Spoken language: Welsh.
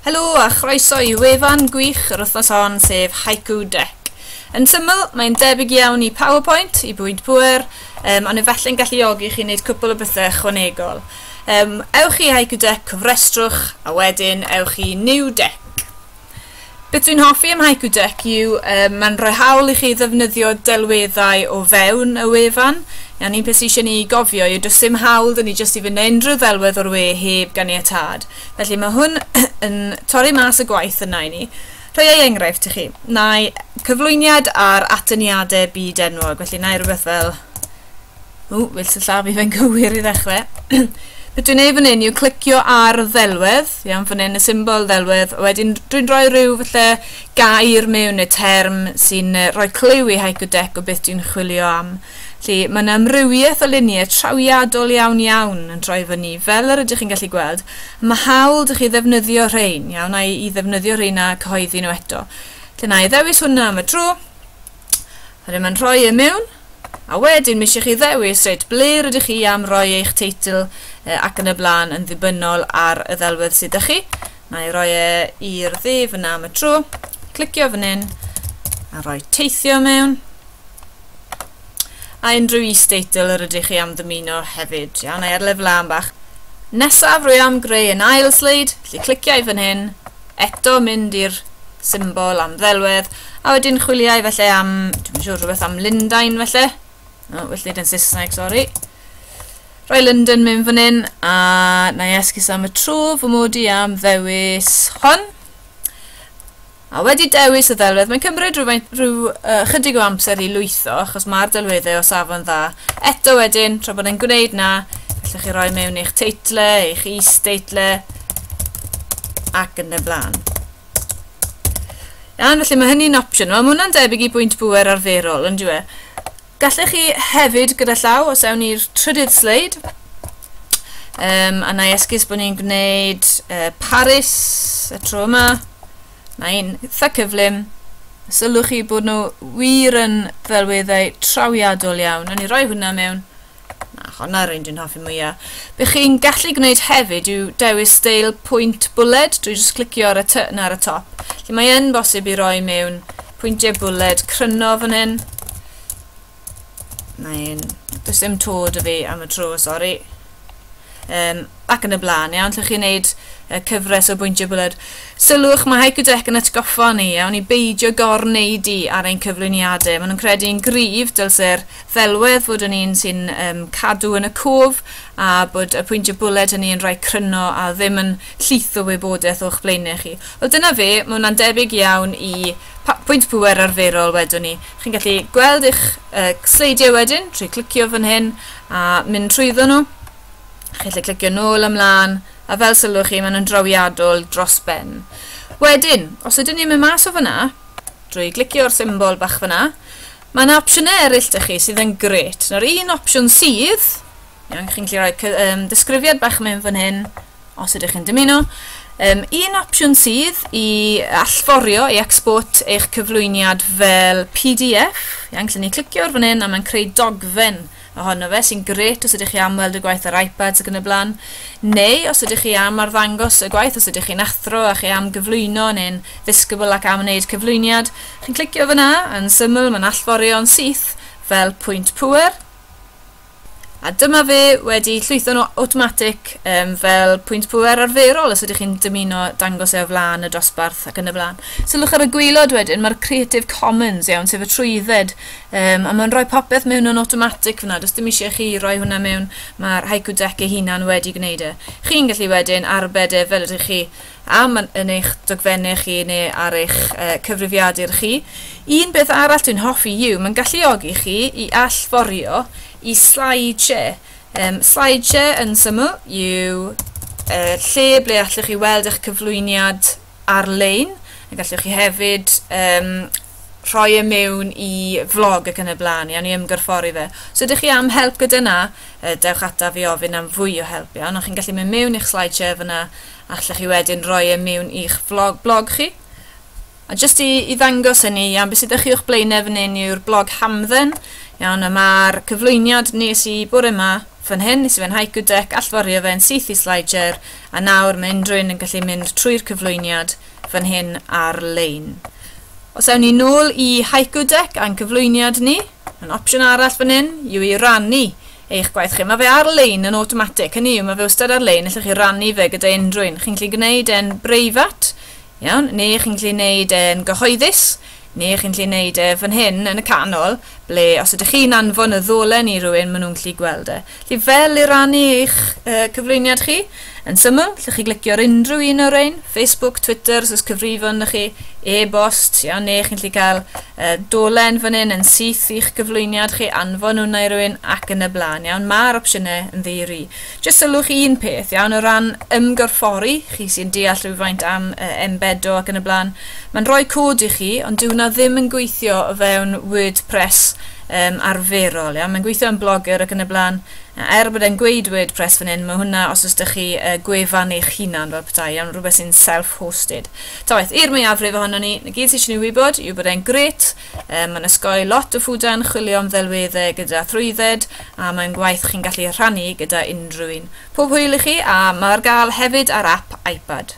Helo a chroeso i wefan gwych yr wythnos hon, sef Haiku Deck. Yn syml, mae'n debyg iawn i PowerPoint, i bwynt pŵer, um, ond efallai'n galluogi chi wneud cwpl o bethau ychwanegol. Um, ewch i Haiku Deck, cofrestrwch, a wedyn ewch i New Deck. Beth dwi'n hoffi am Haiku Deck yw um, mae'n rhoi hawl i chi ddefnyddio delweddau o fewn y wefan. Iawn, un peth sy'n eisiau ni gofio yw does dim hawl dyn ni jyst i fynd unrhyw ddelwedd o'r we heb ganiatad. Felly mae hwn yn torri mas y gwaith yna i ni. Rhoi ei enghraifft i chi. Na'i cyflwyniad ar atyniadau byd enwog. Felly na'i rhywbeth fel... Ww, fel sy'n llaw fi fe'n gywir i ddechrau. Beth dwi'n ei fan hyn yw clicio ar ddelwedd, iawn fan hyn y symbol ddelwedd, a wedyn dwi'n rhoi rhyw falle gair mewn neu term sy'n rhoi clyw i Haiku Deck o beth dwi'n chwilio am. Felly, mae yna amrywiaeth o luniau trawiadol iawn iawn yn droi fyny, fel yr ydych chi'n gallu gweld. Mae hawl dych chi ddefnyddio rhain, iawn, a i ddefnyddio rhain a cyhoeddi nhw eto. Felly, na i ddewis hwnna am y tro. Rydym yn rhoi e mewn, a wedyn mi eisiau chi ddewis reit ble rydych chi am roi eich teitl ac yn y blaen yn ddibynnol ar y ddelwedd sydd â chi. Na i roi e i'r ddu fyna am y tro. Clicio fan hyn a rhoi teithio mewn. A unrhyw is-deitl yr ydych chi am ddymuno hefyd. Iawn, na i ar lefel am bach. Nesaf rwy am greu yn ail sleid, felly clicio i fan hyn, eto mynd i'r symbol am ddelwedd, a wedyn chwiliau felly am, dwi'n siŵr, rhywbeth am Lundain felly. No, well dweud yn Saesneg, sori. Rai London mynd fan hyn a na i esgus am y tro fy mod i am ddewis hon. A wedi dewis y ddelwedd, mae'n cymryd rhyw, rhyw uh, chydig o amser i lwytho, achos mae'r delweddau o safon dda. Eto wedyn, tra bod e'n gwneud na, allwch chi roi mewn eich teitle, eich is-teitle, ac yn y blaen. Iawn, felly mae hynny'n opsiwn. Mae hwnna'n debyg i bwynt bwer arferol, yn dwi e? Gallech chi hefyd gyda llaw, os ewn ni'r trydydd sleid, um, a na i esgus bod ni'n gwneud uh, Paris y tro yma, na i'n eitha cyflym, sylwch chi bod nhw wir yn ddelweddau trawiadol iawn. Nawn ni roi hwnna mewn Na, honna yw'r un dwi'n hoffi mwya. Be chi'n gallu gwneud hefyd yw dewis steil pwynt bwled drwy jyst clicio ar y ty 'na ar y top. Felly mae yn bosib i roi mewn pwyntiau bwled cryno fan hyn. Mae'n... Does dim to dy fi am y tro, sori. Um, ac yn y blaen, iawn, lle chi'n neud uh, cyfres o bwyntiau bwled. Sylwch, mae Hycodec yn atgoffa ni, iawn, i beidio gor-neud i ar ein cyflwyniadau. Maen nhw'n credu yn gryf, dylse'r ddelwedd fod yn un sy'n um, cadw yn y cof a bod y pwyntiau bwled hynny yn rhai cryno a ddim yn llith o wybodaeth o'ch blaenau chi. Wel dyna fe, mae hwnna'n debyg iawn i pwynt pŵer arferol wedwn ni. Chi'n gallu gweld eich uh, sleidiau wedyn trwy clicio fan hyn a mynd trwyddo nhw. Chi'n gallu clicio nôl ymlaen a fel sylwch chi maen nhw'n drawiadol dros ben. Wedyn, os ydyn ni'n mynd mas o fyna, drwy glicio'r symbol bach fyna, Mae yna opsiynau eraill da chi sydd yn gret. Nawr un opsiwn sydd, iawn, chi'n gallu rhoi um, disgrifiad bach mewn fan hyn, os ydych chi'n dymuno. Um, un opsiwn sydd i allforio, i export eich cyflwyniad fel PDF, iawn, lle ni clicio ar fan hyn a mae'n creu dogfen ohono fe, sy'n grêt os ydych chi am weld y gwaith ar iPads ac yn y blaen, neu os ydych chi am arddangos y gwaith, os ydych chi'n athro a chi am gyflwyno neu'n ddisgybl ac am wneud cyflwyniad, chi'n clicio fyna, yn syml mae'n allforion syth fel pwynt pŵer, a dyma fe wedi llwytho'n awtomatig um, fel pwynt pŵer arferol os ydych chi'n dymuno dangos e o flaen y dosbarth ac yn y blaen. Sylwch ar y gwaelod wedyn, mae'r Creative Commons iawn, sef y trwydded Um, a mae'n rhoi popeth mewn yn automatic fyna, does dim eisiau chi rhoi hwnna mewn, mae'r Haiku Deck ei hunan wedi gwneud e. Chi'n gallu wedyn arbed e fel ydych chi am yn eich dogfennau chi neu ar eich uh, cyfrifiadur chi. Un beth arall dwi'n hoffi yw, mae'n galluogi chi i allforio i slideshare. Um, slideshare yn syml yw uh, lle ble allwch chi weld eich cyflwyniad ar-lein, a gallwch chi hefyd um, rhoi e mewn i vlog ac yn y blaen, iawn i ymgorffori fe. Os ydych chi am help gyda na, dewch ata fi ofyn am fwy o help iawn, ond chi'n gallu mynd mewn i'ch slideshare fyna, a allwch chi wedyn rhoi e mewn i'ch vlog, blog chi. A jyst i, i ddangos hynny, iawn, beth sydd â chi o'ch blaenau fan hyn yw'r blog hamdden, iawn, a mae'r cyflwyniad nes i bore yma fan hyn, nes i fe'n haiku deck, allforio fe'n syth i slideshare, A nawr mae unrhywun yn gallu mynd trwy'r cyflwyniad fan hyn ar-lein. Os ewn ni nôl i Haiku Deck a'n cyflwyniad ni, yn opsiwn arall fan hyn yw i rannu eich gwaith chi. Mae fe ar-lein yn awtomatig, hynny yw mae fe wastad ar-lein, allwch chi rannu fe gyda unrhywun. Chi'n gallu gwneud e'n breifat, iawn, neu chi'n gallu gwneud e'n gyhoeddus, Neu chi'n gallu neud e fan hyn yn y canol, ble os ydych chi'n anfon y ddolen i rywun, maen nhw'n gallu gweld e. Felly fel i rannu eich uh, cyflwyniad chi, yn syml, lle chi glicio ar unrhyw un o'r ein, Facebook, Twitter, os oes cyfrifon na chi, e-bost, iawn, neu chi'n gallu cael uh, dolen fan hyn yn syth i'ch cyflwyniad chi, anfon hwnna i rywun ac yn y blaen, iawn. Mae'r opsiynau yn ddeiri. Jyst sylwch un peth, iawn, o ran ymgorffori, chi sy'n deall rhywfaint am uh, embedo ac yn y blaen, mae'n rhoi cod i chi, ond dyw hwnna ddim yn gweithio o fewn WordPress um, arferol, iawn. Mae'n gweithio yn blogger ac yn y blaen. Er bod e'n gweud WordPress fan hyn, mae hwnna os oes da chi uh, gwefan eich hunan fel petai, iawn, rhywbeth sy'n self-hosted. Ta waith, i'r mwyafrif ohono ni, na gyd sydd eisiau ni wybod yw bod e'n gret, Um, mae'n ysgoi lot o ffwda yn chwilio am ddelweddau gyda thrwydded a mae'n gwaith chi'n gallu rhannu gyda unrhyw un. Pob hwyl i chi a mae ar gael hefyd ar app iPad.